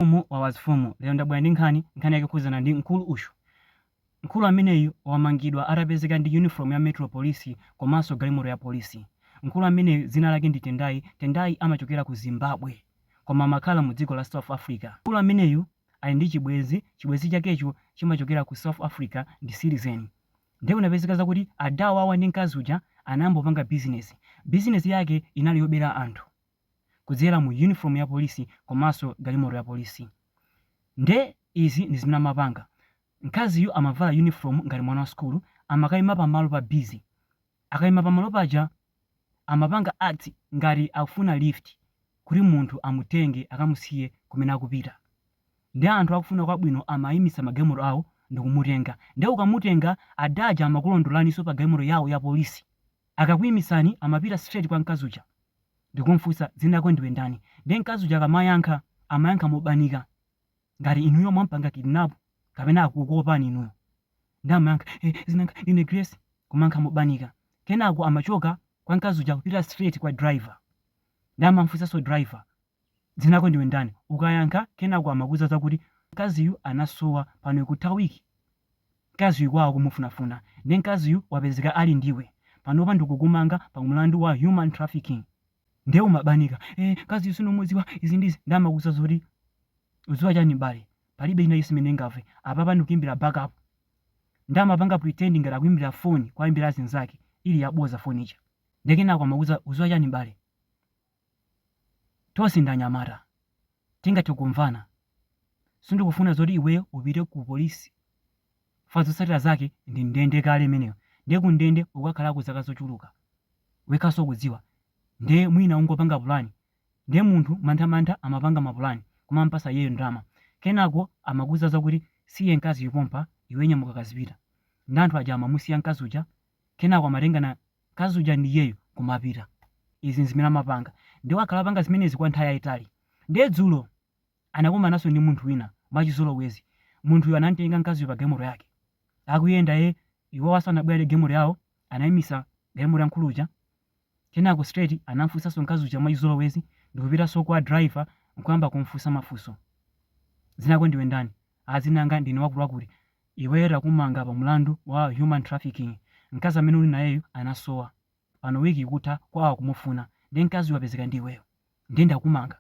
Mfumu ya mafumu. Lero ndabwera ndi nkhani, nkhani yake ikukhudzana ndi mkulu uyu. Mkulu ameneyu wamangidwa atapezeka ndi uniform ya Metro Police komanso galimoto ya polisi. Mkulu ameneyu dzina lake ndi Tendai, Tendai amachokera ku Zimbabwe koma amakhala mu dziko la South Africa. Mkulu ameneyu ali ndi chibwenzi, chibwenzi chakecho chimachokera ku South Africa ndi citizen. Ndiye kunapezeka zakuti ada awa ndi mkazi uja anayamba kupanga business. Business yake inali yobera anthu. kudzera mu uniform ya police komanso galimoto ya police nde izi ndi zimene amapanga mkaziyu amavala uniform ngati mwana wa sukulu amakaima pamalo pa busy akaima pamalo paja amapanga act ngati akufuna lift kuti munthu amutenge akamusiye kumene akupita nde anthu okufuna kwabwino amaimitsa magalimoto awo ndikumutenga nde ukamutenga ada aja amakulondolaniso pa galimoto yawo ya police akakuimitsani amapita straight kwa mkazi uja ndikumufunsa dzina lako ndiwe ndani ndiye mkazi uja akamayankha amayankha mobanika ngati inuyo mwampanga kidnap kapena akukuopani inuyo nde amayankha eh, dzina langa ine grace kumayankha mobanika kenako amachoka kwa mkazi uja kupita straight kwa driver nde amamfunsanso driver Dzina lako ndiwe ndani? Ukayankha kenako amakuuza zakuti mkaziyu anasowa pano ikutha week mkaziyu kwawo akumufunafuna nde mkaziyu wapezeka ali ndi iwe panopa ndikukumanga pa mlandu wa human trafficking nde umabanika ee mkaziyu sindikumudziwa izi ndi izi nde amakuuza zoti udziwa chani m'bale palibe china chonse chimene ndingamve apapa ndikuimbira backup nde amapanga pretend ngati akuimbira phone kuwaimbira azinzake ili yaboza phone ija nde kenako amakuuza udziwa chani m'bale Tonse ndi anyamata. Tingathe kumvana. Sindikufuna zoti iweyo upite ku polisi chifukwa zotsatira zake ndi ndende kale imeneyo. Ndiye kundende ukakhalako zaka zochuluka. Wekhanso ukudziwa. Ndiye mwina ungopanga pulani. Ndiye munthu mantha mantha amapanga mapulani kumamupatsa iyeyo ndalama. Kenako amakuuza zakuti, Musiye mkaziyu pompa, iwe nyamuka kazipita. Nde anthu aja amamusiya mkazi uja, kenako amatengana Mkazi uja ndi iyeyo kumapita. Izi n'zimene amapanga. Ndiye wakhala akupanga zimenezi kwa nthawi yayitali. Ndiye dzulo anakumananso ndi munthu wina mwachizolowezi. Munthuyo anam'tenga mkaziyo pa galimoto yake. Akuyenda iye, iwo adabwera ndi galimoto yawo, anaimitsa galimoto ya mkulu uja. Kenako straight anam'funsanso mkazi uja mwachizolowezi ndi kupitanso kwa driver n'kuyamba kum'funsa mafunso. Dzina lako ndiwe ndani? A dzina langa ndine wakuti wakuti iweyo takumanga pa mulandu wa human trafficking mkazi amene uli nayeyu anasowa pano week ikutha kwawo akumufuna nde mkaziyu wapezeka ndi iweyo nde ndakumanga.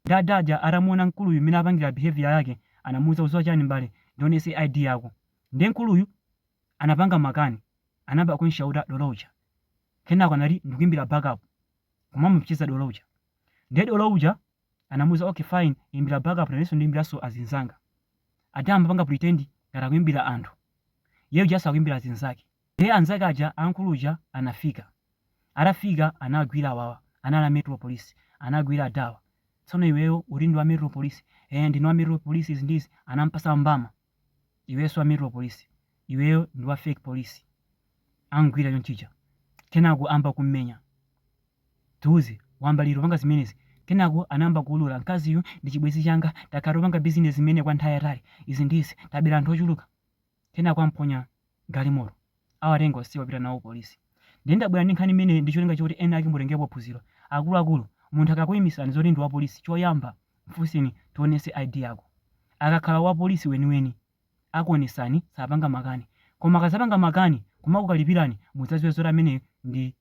Nde ada aja atamuona mkuluyu mmene akupangila behaviour yake anamuuza udziwa chani m'bale ndionese ID yako nde mkuluyu anapanga makani anayamba kumshouta dolo uja kenako anati ndikuimbila backup kumamuopseza dolo uja nde dolo uja anamuuza ok fine imbira backup nanenso ndiimbiranso azinzanga aja adayamba kupanga pretend ngati akuimbira anthu iyeyo just akuimbira azinzake ndiye anzake aja aakulu aja anafika atafika anagwira awawa anali a metro police anagwira adawa tsono iweyo uli ndi wa metro police eh ndine wa metro police izi ndizi anampasa mbama iweyo si wa metro police iweyo ndi wa fake police amugwira chonchija kenako ayamba kummenya tiuze wayamba liti kupanga zimenezi kenako anayamba kuulula mkaziyu ndi chibwenzi changa takhala tikupanga bizinesi imeneyi kwa nthawi yaitali izi ndizi tabera anthu ochuluka kenako amponya galimoto awatenga onse wapita nawo ku polisi. Ndiye ndabwera ndi nkhani imeneyi ndi cholinga choti ena ake mutengepo phunziro. Akuluakulu, munthu akakuimisani zoti ndi wapolisi, choyamba mfunseni tionetse ID yako. Akakhala wapolisi weniweni, akuonetsani, sapanga makani. Koma akadzapanga makani n'kumakukalipirani, mudzadziwe zoti ameneyu ndi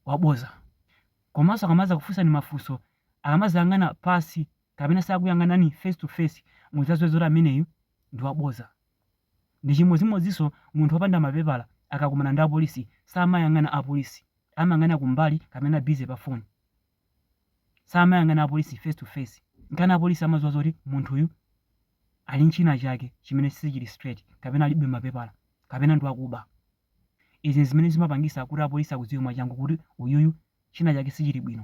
wabodza. Komanso akamadzakufunsani mafunso, akamadzayang'ana pansi kapena sakuyang'anani face to face, mudzadziwe zoti ameneyu ndi wabodza. Ndi chimodzimodzinso munthu wopanda mapepala akakumana ndi apolisi samayang'ana apolisi amayang'ana kumbali kapena busy pa phone. Samayang'ana apolisi face to face nkana apolisi amadziwa zoti munthuyu ali nchina chake chimene sichili straight kapena alibe mapepala kapena ndi wakuba. Izi nzimene zimapangisa kuti apolisi akudziwe mwachangu kuti uyuyu china chake sichili bwino.